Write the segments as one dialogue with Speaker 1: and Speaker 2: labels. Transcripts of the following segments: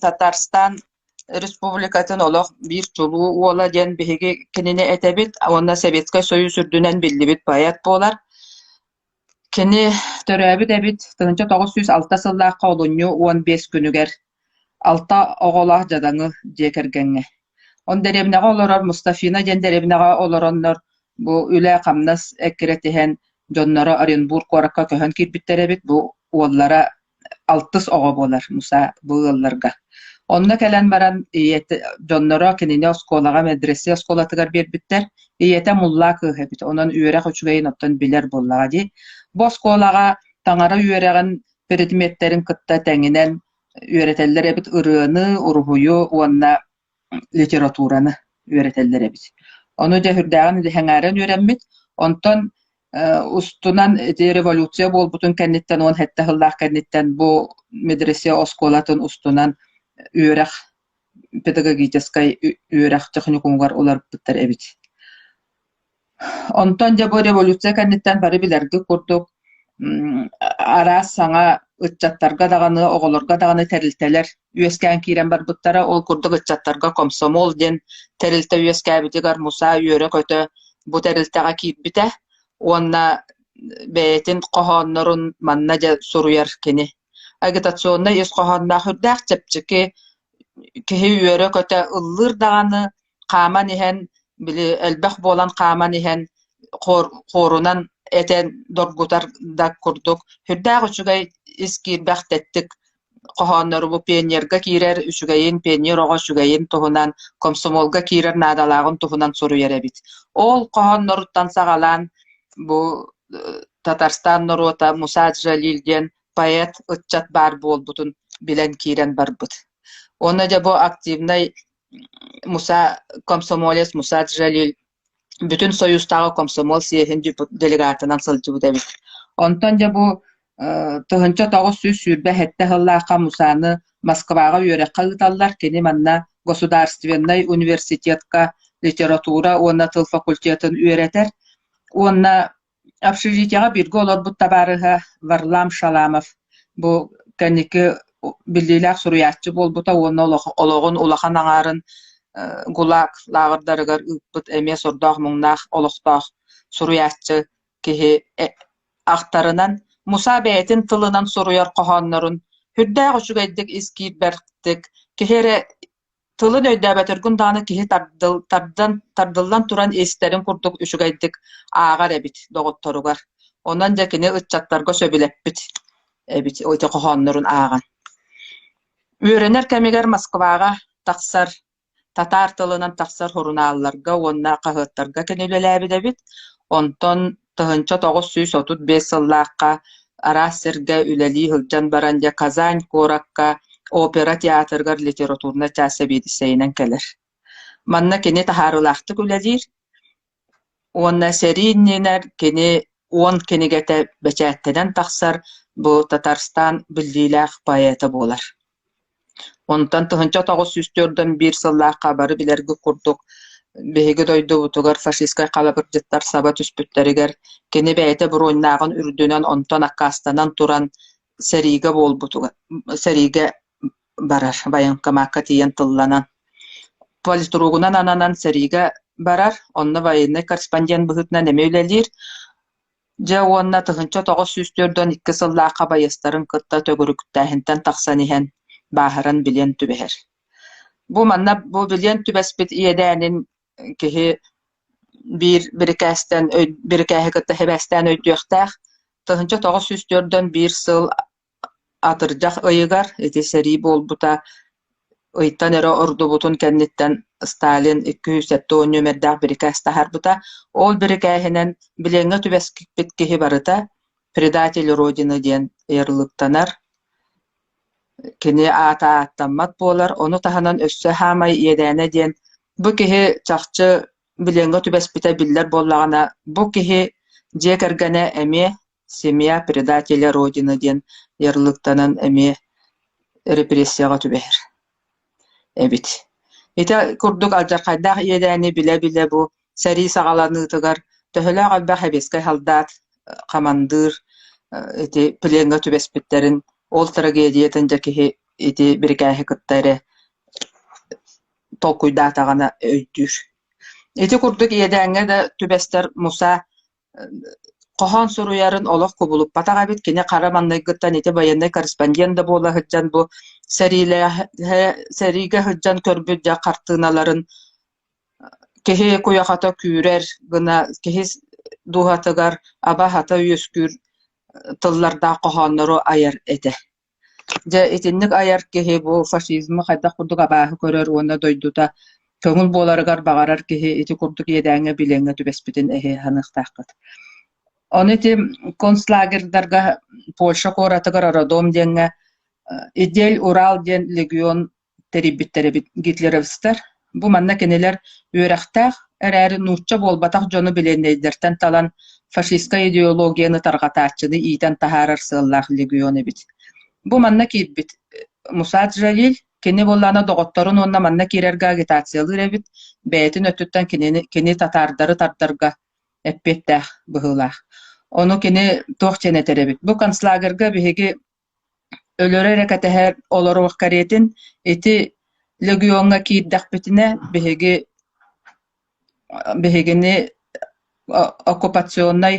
Speaker 1: Татарстан Республикатын олох биир чулуу уола диэн биһиги кинини этэбит уонна Советскай Союз үрдүнэн биллибит поэт буолар. Кини төрөөбүт эбит тыһыынча тоҕус сүүс алта сыллаахха олунньу уон биэс күнүгэр алта оҕолоох дьадаҥы дьиэ кэргэҥҥэ. Он дэриэбинэҕэ олорор Мустафина диэн дэриэбинэҕэ олороннор бу үлэ-хамнас эккирэтиһэн дьонноро Оренбург куоракка көһөн киирбиттэр эбит. Бу уоллара алтыс оҕо буолар Муса бу ыалларга. Онно кэлэн баран ийэтэ дьонноро кинини оскуолаҕа медресе оскуолатыгар биэрбиттэр. Ийэтэ муллаа кыыһа эбит. Онон үөрэх үчүгэйин оттон билэр буоллаҕа дии. Бу оскуолаҕа таҥара үөрэҕин предметтэрин кытта тэҥинэн үөрэтэллэр эбит ырыаны, уруһуйу уонна литератураны үөрэтэллэр эбит. Ону дьэ үрдээҕин илэ сэҥээрэн үөрэммит. Онтон устунан ити революция буолбутун кэнниттэн уон сэттэ сыллаах кэнниттэн бу медресе оскуолатын устунан үөрэх педагогическай үөрэх техникумугар уларыппыттар эбит. Онтон дьэ бу революция кэнниттэн бары билэргит курдук араас саҥа ыччаттарга даҕаны, оҕолорго даҕаны тэрилтэлэр үөскээн киирэн барбыттара. Ол курдук ыччаттарга комсомол диэн тэрилтэ үөскээбитигэр мусаа үөрэ-көтө бу тэрилтэҕэ киирбитэ уонна бэйэтин хоһооннорун манна дьэ суруйар кини. Агитационнай ис хоһоонноох үрдээх чэпчэки, киһи үөрэ-көтө ыллыыр даҕаны хааман иһэн, били элбэх буолан хааман иһэн, хор хорунан этэн доргутар да курдук, сүрдээх үчүгэй ис киирбэх тэттик хоһооннору бу пионерга киирэр үчүгэйин, пионер оҕо үчүгэйин туһунан, комсомолга киирэр наадалааҕын туһунан суруйар эбит. Ол хоһоонноруттан саҕалаан бу Татарстан норуота Муса Джалиль диэн поэт, ыччат баар буолбутун билэн киирэн барбыт. Уонна дьэ бу активнай Муса комсомолец Муса Джалиль бүтүн Союзтааҕы комсомол съеһин делегатынан сылдьыбыт эбит. Онтон дьэ бу тыһыынча тоҕус сүүс сүүрбэ сэттэ сыллаахха Мусаны Москваҕа үөрэххэ ыыталлар. Кини манна Государственнай университетка литература уонна тыл факультетын үөрэтэр уонна Общежитиеҕа бииргэ олорбут табаарыһа Варлам Шаламов бу кэнники биллиилээх суруйааччы буолбута уонна олоҕун улахан аҥаарын ГУЛАГ лааҕырдарыгар ыыппыт эмиэ сордоох-муҥнаах олохтоох суруйааччы киһи ахтарынан Муса бэйэтин тылынан суруйар хоһооннорун үрдээх үчүгэйдик ис киирбэхтик киһи эрэ Тылын өйдөөбөтөргүн даҕаны киһи тардыл, тардан, тардыллан туран истэрин курдук үчүгэйдик ааҕар эбит доҕотторугар. Онон дьэ кини ыччаттарга сөбүлэппит эбит ити хоһооннорун ааҕан. Үөрэнэр кэмигэр Москваҕа тахсар, татаар тылынан тахсар сурунаалларга уонна хаһыаттарга кини үлэлээбит эбит. Онтон Тыһыынча тоҕус сүүс отут биэс сыллаахха араас сиргэ үлэлии сылдьан баран дьэ Казань куоракка опера театрыгар литературнай чаас сэбиэдиссэйинэн кэлэр. Манна кини таһаарылаахтык үлэлиир уонна сэрии иннинэр кини уон кинигэтэ бэчээттэнэн тахсар бу Татарстан биллиилээх поэта буолар. Онтон тыһыынча тоҕус сүүс түөртэн биир сыллаахха бары билэргит курдук, биһиги дойдубутугар фашистскай халабырдьыттар саба түспүттэригэр, кини бэйэтэ буруйнааҕын үрдүнэн онтон аккаастанан туран сэриигэ буолбутугар сэриигэ барар, военкомакка тиийэн тылланан. Политругунан ананан сэриигэ барар, онно военный корреспондент быһыытынан эмиэ үлэлиир. Дьэ уонна тыһыынча тоҕус сүүс түөрт уон икки сыллаахха байыастарын кытта төгүрүктээһинтэн тахсан иһэн бааһыран билиэн түбэһэр. Бу манна бу билиэн түбэспит иэдээнин киһи биир бирикээстэн өй бирикээһи кытта сибээстээн өйдүөхтээх. Тыһыынча тоҕус сүүс түөрт уон биир сыл Атырдьах ыйыгар ити сэрии буолбута ыйтан эрэ ордубутун кэнниттэн Сталин икки сүүс сэттэ уон нүөмэрдээх бирикээс таһаарбыта, ол бирикээһинэн билиэҥҥэ түбэспиппит киһи барыта «предатель Родины» диэн ыарылыктанар, кини аата ааттаммат буолар, ону таһынан өссө хаамай иэдээнэ диэн бу киһи чахчы билиэҥҥэ түбэспитэ биллэр буоллаҕына, бу киһи дьиэ кэргэнэ эмиэ Семья предателя родина диэн ярылыктанан эмиэ репрессияҕа түбэһэр эбит. Ити курдук алдьархайдаах иэдээни билэ-билэ бу сэрии саҕаланыытыгар төһөлөөх элбэх сэбиэскэй салдаат, хамандыыр ити плеҥҥа түбэспиттэрин ол трагедиятын дьэ киһи ити бирикээһи кытта эрэ толкуйдаатаҕына өйдүүр. Ити курдук иэдээҥҥэ да түбэстэр Муса хоһоон суруйарын олох кубулуппатах эбит. Кини хара маҥнайгыттан ити байыаннай корреспондент да буола сылдьан бу сэриилээһэ сэриигэ сылдьан көрбүт дьэ хартыыналарын киһи куйахата күүрэр гына киһи дууһатыгар аба-хата үөскүүр тыллардаах хоһооннору айар этэ Дьэ, итинник айар киһи бу фашизмы хайдах курдук абааһы көрөр уонна дойдута көҥүл буоларыгар баҕарар киһи ити курдук иэдээҥҥэ билиэҥҥэ түбэспитин эһи саныахтааххыт. Ону ити концлагердарга Польша куоратыгар Родом диэҥҥэ Идель-Урал диэн легион тэрийбиттэр эбит гитлеровцтар. Бу манна кинилэр үөрэхтээх эрээри нуучча буолбатах дьону билиэннэйдэртэн талан фашистскай идеологияны тарҕатааччыны иитэн таһаарар сыаллаах легион эбит. Бу манна киирбит Мусад Жалиль кини буоллаана доҕотторун уонна манна киирэргэ агитациялыыр эбит бэйэтин өттүттэн кинини кини татаардары тардарга эппиэттээх быһыылаах. Ону кини туох диэн этэр эбит. Бу концлагерга биһиги Өлөрө эрэ кэтэһэр олоруох кэриэтин ити легиоҥҥа киирдэхпитинэ биһиги биһигини оккупационнай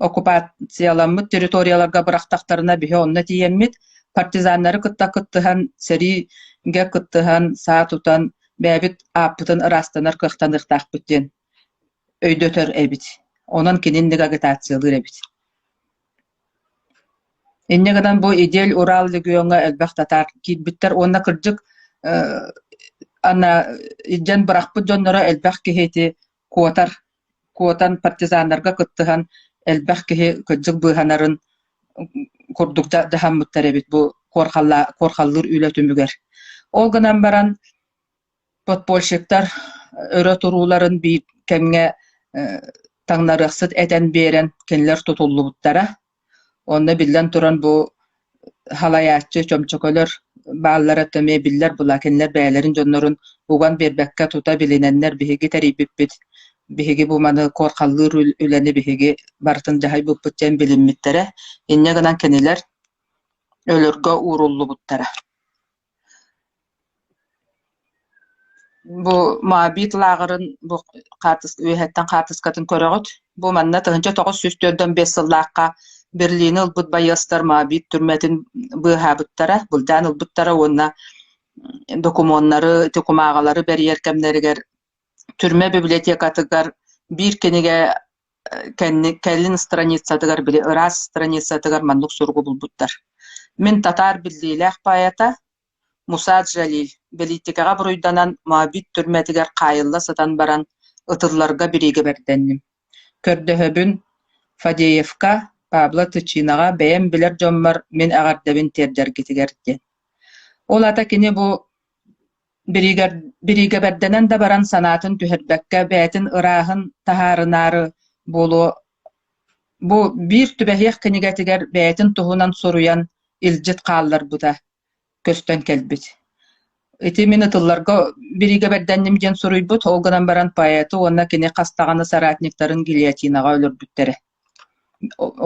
Speaker 1: оккупацияламмыт территорияларга бырахтахтарына биһи онно тиийэммит партизаннары кытта кыттыһан сэриигэ кыттыһан саа тутан бэйэбит ааппытын ыраастанар кыахтаныахтаахпыт диэн өйдөтөр эбит онон кинини агитациялыыр эбит Инньэ гынан бу Идель-Урал региоҥҥа элбэх татаар киирбиттэр уонна кырдьык ана илдьэн бырахпыт дьонноро элбэх киһити куотар куотан партизаннарга кыттыһан элбэх киһи кырдьык быыһанарын курдук дьаһаммыттар эбит бу куорхаллаа куорхаллыыр үлэ түмүгэр. Ол гынан баран Подпольщиктар өрө турууларын биир кэмҥэ таҥнарыахсыт этэн биэрэн кинилэр тутуллубуттара. Онно биллэн туран бу халайааччы, чөмчөкөлөр бааллара да эмиэ биллэр былаа кинилэр бэйэлэрин дьоннорун уган биэрбэккэ тута билинэннэр биһиги тэрийбиппит, биһиги бу маны куорхаллыыр үлэни биһиги барытын дьаһайбыппыт диэн билиммиттэрэ. Инньэ гынан кинилэр өлөргө ууруллубуттара. Бу Моабит лааҕырын бу хаартыска үөһэттэн хаартыскатын көрөҕүт. Бу манна тыһыынча тоҕус сүүс түөртүн биэс сыллаахха Берлини ылбыт байыастар Моабит түрмэтин быыһаабыттара, былдьаан ылбыттара уонна докумуоннары, докумааҕылары бэрийэр кэмнэригэр түрмэ библиотекатыгар биир кинигэ кэнник кэлин страницатыгар били ыраас страницатыгар маннык суругу булбуттар мин татаар биллиилээх поэта муса джалиль бэлиитикэҕэ буруйданан моабит түрмэтигэр хаайылла сытан баран ытылларга бириигэбэрдэнним көрдөһөбүн фадеевка пабло тычинаҕа бэйэм билэр дьоммор мин эҕэрдэбин тиэрдэргитигэр диэн ол ата кини бу бириигэбэрдэнэн да баран санаатын түһэрбэккэ бэйэтин ырааһын таһаарынаары буолуо бу биир түбэһиэх кинигэтигэр бэйэтин туһунан суруйан илдьит хаалларбыта көстөн кэлбит ити мин ытылларга бириигэбэрдэнним диэн суруйбут ол гынан баран поэту уонна кини хас даҕаны соратниктарын гильотинаҕа өлөрбүттэрэ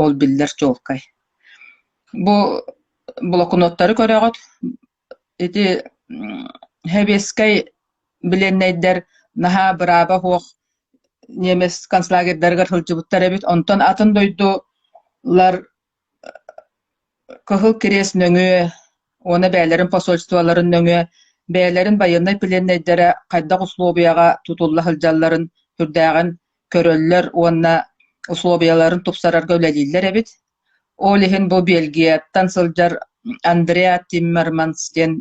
Speaker 1: ол биллэр чуолкай бу блокноттары көрөҕүт Ити хэбиэскэй билиэннэйдэр наһаа бырааба суох немец концлагерьдарыгар сылдьыбыттар эбит, онтон атын дойдулар Кыһыл Кириэс нөҥүө уонна бэйэлэрин посольстволарын нөҥүө бэйэлэрин байыаннай плиэннэйдэрэ хайдах усулуобуйаҕа тутулла сылдьалларын сүрдээҕин көрөллөр уонна условияларын тупсарарга үлэлииллэр эбит. Ол иһин бу Бельгияттан сылдьар Андреа Тиммерманс диэн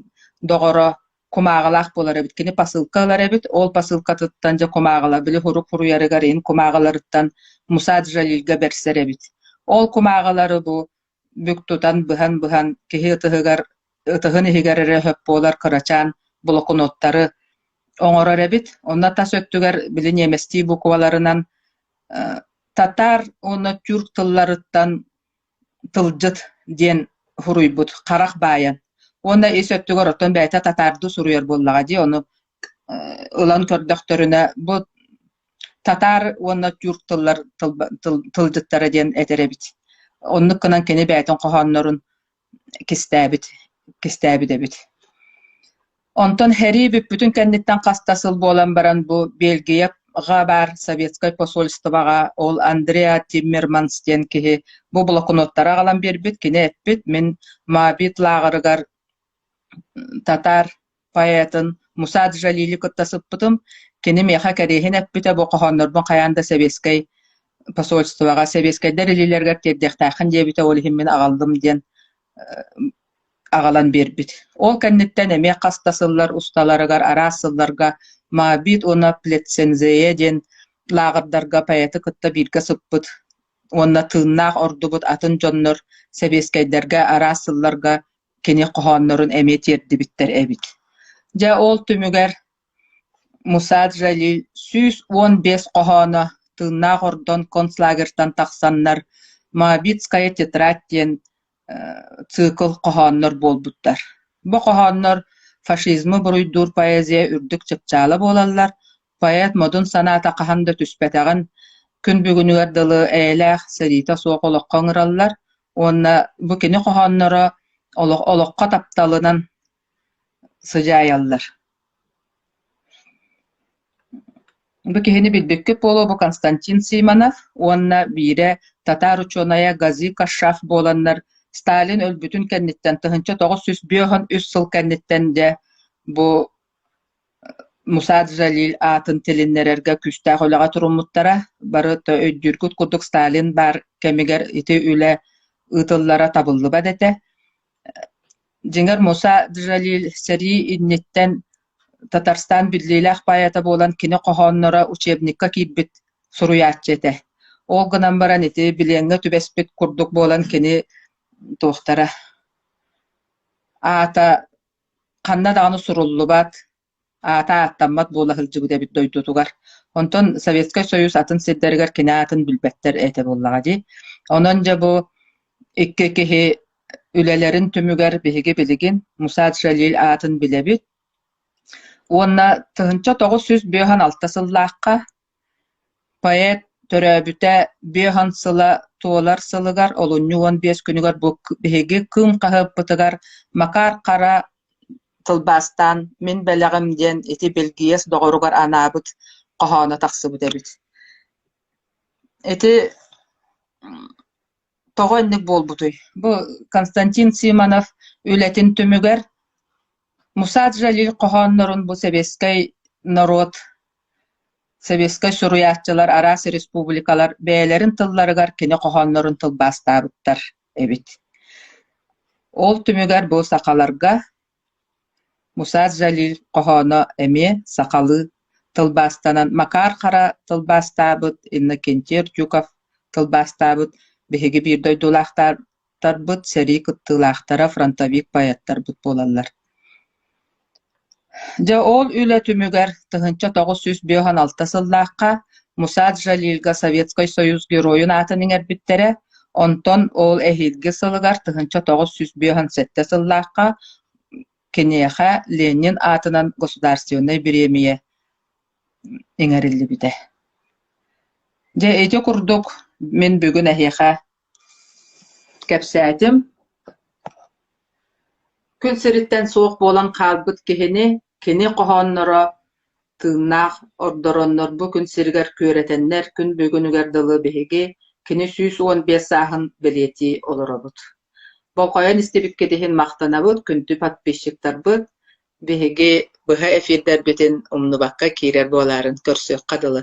Speaker 1: доҕоро кумааҕылаах буолар эбит. Кини посылка ылар эбит. Ол посылкатыттан дьэ кумааҕыла били хурук хуруйарыгар иһин кумааҕыларыттан Муса Джалильга берсэр эбит. Ол кумааҕылары бу бүк тутан быһан-быһан киһи ытыһыгар ытыһын иһигэр эрэ сөп буолар кырачаан блокноттары оҥорор эбит. Онно тас өттүгэр били ньиэмэстии букваларынан татаар уонна тюрк тылларыттан тылдьыт диэн суруйбут харах баайан. Уонна ис өттүгэр оттон бэйэтэ татаарды суруйар буоллаҕа дии, ону ылан көрдөхтөрүнэ бу татаар уонна тюрк тыллар тылдьыттара диэн этэр эбит оннук гынан кини бэйэтин хоһооннорун кистээбит кистээбит эбит онтон һэрии бүппүтүн кэнниттэн хаста сыл буолан баран бу бельгияҕа баар советскай посольствоҕа ол андреа тиммерманс диэн киһи бу блокноттары аҕалан биэрбит кини эппит мин мабит лааҕырыгар татаар поэтын Муса Джалили кытта сыппытым. Кини миэхэ кэриэһин эппитэ бу хоһооннорбун хайаан да сэбиэскэй посольствоҕа, сэбиэскэйдэр илиилэригэр тиэрдиэхтээххин диэбитэ, ол иһин мин аҕаллым диэн аҕалан биэрбит. Ол кэнниттэн эмиэ хас да сыллар усталарыгар араас сылларга Мабит уонна Плецензее диэн лааҕырдарга поэты кытта бииргэ сыппыт уонна тыыннаах ордубут атын дьоннор сэбиэскэйдэргэ араас сылларга кини хоһооннорун эмиэ тиэрдибиттэр эбит Дьэ ол түмүгэр Мусад Жалиль сүүс уон биэс хоһооно тыыннаах ордон концлагерьтан тахсаннар Моабитская тетрадь диэн цикл хоһооннор буолбуттар бу хоһооннор фашизмы буруйдуур поэзия үрдүк чыпчаала буолаллар Поэт модун санаата хаһан да түспэтэҕин, күн бүгүнүгэр дылы эйэлээх, сэриитэ суох олоххо ыҥыраллар уонна бу кини хоһоонноро олох олоххо тапталынан сыдьаайаллар. Бу киһини билбиккит буолуо бу Константин Симонов уонна биирэ татаар учуонайа Гази Кашаф буоланнар Сталин өлбүтүн кэнниттэн тыһыынча тоҕус сүүс биэс уон үс сыл кэнниттэн дьэ бу Мусаат Жалиль аатын тилиннэрэргэ күүстээх үлэҕэ туруммуттара, бары да өйдүүргүт курдук Сталин баар кэмигэр ити үлэ ыытыллара табыллыбат этэ. Дьиҥэр, Мусаат Жалиль сэрии инниттэн Татарстан биллиилээх поэта буолан кини хоһоонноро учебникка киирбит суруйааччы этэ. Ол гынан баран ити билиэҥҥэ түбэспит курдук буолан кини туохтара аата ханна даҕаны суруллубат, аата ааттаммат буола сылдьыбыт эбит дойдутугар. Онтон Советскай Союз атын сирдэригэр кини аатын билбэттэр этэ буоллаҕа дии. Онон дьэ бу икки киһи үлэлэрин түмүгэр биһиги билигин Мусад Жалиль аатын билэбит. Уонна тыһыынча тоҕус сүүс биэс уон алта сыллаахха Поэт төрөөбүтэ биэһон сыла туолар сылыгар олунньу уон биэс күнүгэр бу биһиги Кыым хаһыаппытыгар Макаар Хара тылбаастаан «Мин бэлэҕим» диэн ити Бэлгийиэс доҕоругар анаабыт хоһооно тахсыбыт эбит. Ити тоҕо инник буолбутуй бу Константин Симонов үлэтин түмүгэр Мусаат Жалиль хоһооннорун бу сэбиэскэй норуот сэбиэскэй суруйааччылар араас республикалар бэйэлэрин тылларыгар кини хоһооннорун тылбаастаабыттар эбит ол түмүгэр бу сахаларга Мусаар Жалиль хоһооно эмиэ сахалыы тылбаастанан Макаар Хара тылбаастаабыт Иннокентий Артюков тылбаастаабыт биһиги биир дойдулаахтарбыт сэрии кыттыылаахтара фронтовик поэттарбыт буолаллар Дьэ ол үлэ түмүгэр тыһыынча тоҕус сүүс биэһон алта сыллаахха Мусаар Жалильга Советскай Союз Геройун аатын иҥэрбиттэрэ Онтон ол эһиилги сылыгар тыһыынча тоҕус сүүс биэһэн сэттэ сыллаахха киниэхэ Ленин аатынан государственнай бириэмийэ иҥэриллибитэ. Дьэ ити курдук мин бүгүн эһиэхэ кэпсээтим. Күн сириттэн суох буолан хаалбыт киһини, кини хоһоонноро Тыыннаах ордороннор бу күн сиригэр күөрэтэннэр күн бүгүнүгэр дылы биһиги кини сүүс уон биэс сааһын бэлиэтии олоробут. Болҕойон истибиккит иһин махтанабыт, күндү подписчиктарбыт, биһиги быһа эфирдэрбитин умнубакка киирэр буолаарын көрсүөххэ дылы